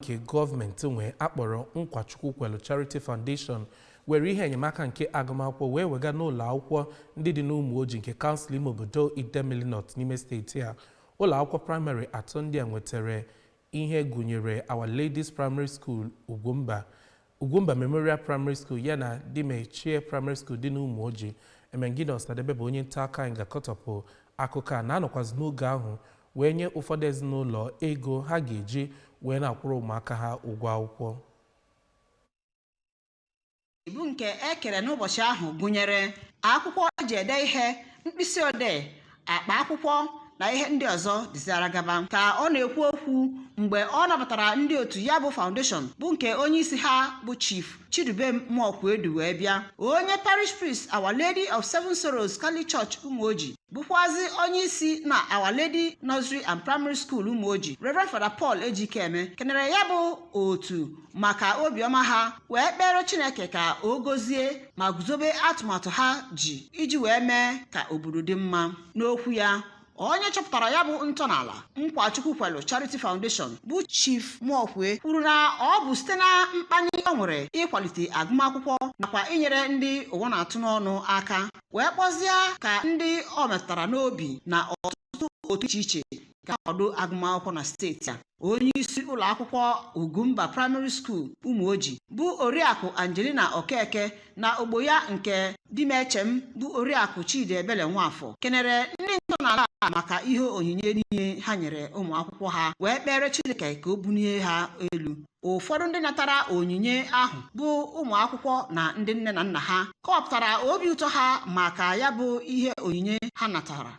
nke gọọmenti nwe a kpọrọ Nkwachukwu Kwelu Charity Foundation were ihe enyemaka nke agụmakwụkwọ wee wega n'ụlọ akwụkwọ ndị dị n'Ụmụoji nke kansụl ime obodo Idemili North n'ime steeti a ụlọ akwụkwọ praịmarị atọ ndị a nwetara ihe gụnyere Our Lady's Primary School Ugwumba Ugwumba Memorial Primary School ya na Dimechem Primary School dị n'Ụmụoji Emengini Ọsadebe bụ onye nta akụkọ anyị ga-akọtọpụ akụkọ a na a nọkwazị n'oge ahụ wee nye ụfọdụ ezinụlọ ego ha ga-eji wee na-akwụrụ ụmụaka ha ụgwọ akwụkwọ ibu nke e kere n'ụbọchị ahụ gụnyere akwụkwọ e ji ede ihe mkpịsị odee akpa akwụkwọ na ihe ndị ọzọ dịziara gaba ka ọ na-ekwu okwu mgbe ọ nabatara ndị otu ya bụ foundation bụ nke onye isi ha bụ chief chidubem mụọkwe du wee bịa onye parish priest our lady of seven sorrows catholic church ụmụoji bụkwazi onye isi na our lady nursery and primary school ụmụoji reverend father paul ejikeme kenere ya bụ otu maka obiọma ha wee kpere chineke ka o gozie ma guzobe atụmatụ ha ji iji wee mee ka obodo dị mma n'okwu ya onye chọpụtara ya bụ ntọala nkwachukwu kwelu charity foundation bụ chief mụọkwe kwuru na ọ bụ site na mkpali o nwere ịkwalite agụmakwụkwọ nakwa inyere ndị ụwa na-atụ n'ọnụ aka wee kpọzie ka ndị o metụtara n'obi na ọtụtụ otu iche iche kwado agụmakwụkwọ na steeti a onye isi ụlọ akwụkwọ ugwumba praịmarị skuul ụmụoji bụ oriakụ angelina okeke na ogbo ya nke dimechem bụ oriakụ chidiebele nwafọ kenere ndị ntọala a maka ihe onyinye niile ha nyere ụmụ akwụkwọ ha wee kpere chineke ka o bunie ha elu ụfọdụ ndị natara onyinye ahụ bụ ụmụ akwụkwọ na ndị nne na nna ha kọwapụtara obi ụtọ ha maka ya bụ ihe onyinye ha natara